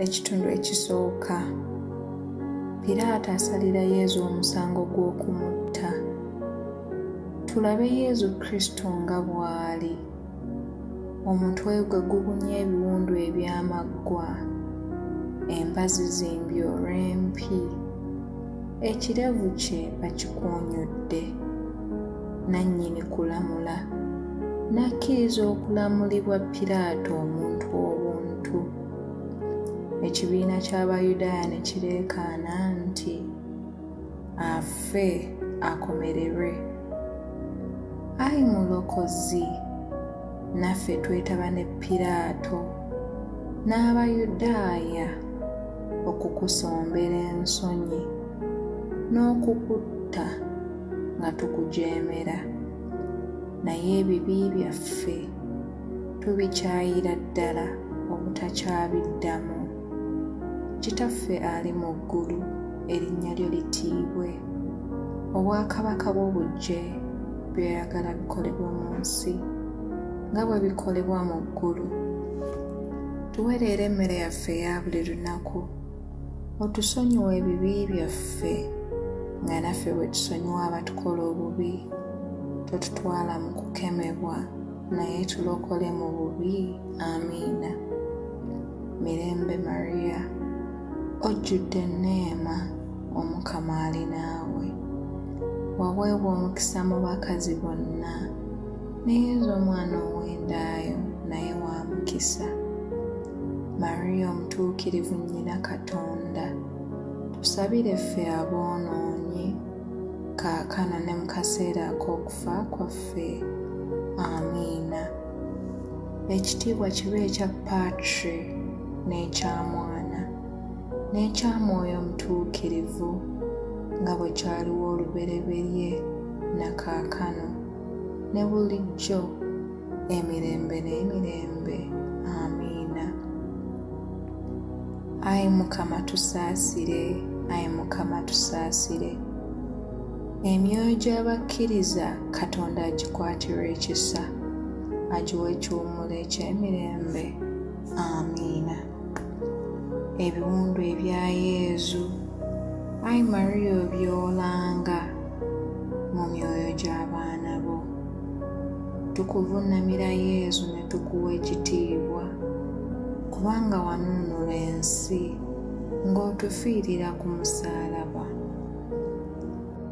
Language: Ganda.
Ekitundu ekisooka Piraato asalira Yezu omusango gw'okumutta. Tulabe Yezu Kristo nga bw'ali. Omutwe gwe gubunye ebiwundu eby'amaggwa, embazi ze mbyoro empi, ekirevu kye bakikuunyudde. nannyini kulamula, n'akkiriza okulamulibwa Piraato omuntu obuntu. Ekibiina ky'Abayudaaya ne kireekaana nti, Afe, akomererwe! Ai Mulokozi, naffe twetaba ne Piraato n'Abayudaaya okukusombera ensonyi n'okukutta. nga tukujeemera naye ebibi byaffe tubikyayira ddala obutakyabiddamu kitaffe ali mu ggulu erinnya lyo litiibwe obwakabaka bwo bujje byoyagala bikolebwa mu nsi nga bwe bikolebwa mu ggulu tuwereera emmere yaffe eya buli lunaku otusonyiwa ebibi byaffe nga naffe bwe tusonyiwa abatukola obubi totutwala mu kukemebwa naye tulokole mu bubi amiina mirembe mariya ojjudde enneema omukama ali naawe waweebwa omukisa mu bakazi bonna naye nze omwana ow'endaayo naye wa mukisa Maria omutuukirivu nnyina Katonda, tusabire ffe aboonoonyi, kaakano ne mu kaseera ak'okufa kwaffe. Amiina. Ekitiibwa kibe ekya Patri n'ekya Mwana n'ekya Mwoyo Omutuukirivu, nga bwe kyaliwo olubereberye, na kaakano, ne bulijjo, emirembe n'emirembe amiina ayi mukama tusaasire ayi mukama tusaasire emyoyo gy'abakkiriza katonda agikwatirwa ekisa agiwa ekiwumulo eky'emirembe amiina ebiwundu ebya yezu ayi mariya obyolanga mu myoyo gy'abaana bo Tukuvunnamira Yezu ne tukuwa ekitiibwa, kubanga wanunula ensi ng'otufiirira ku musaalaba.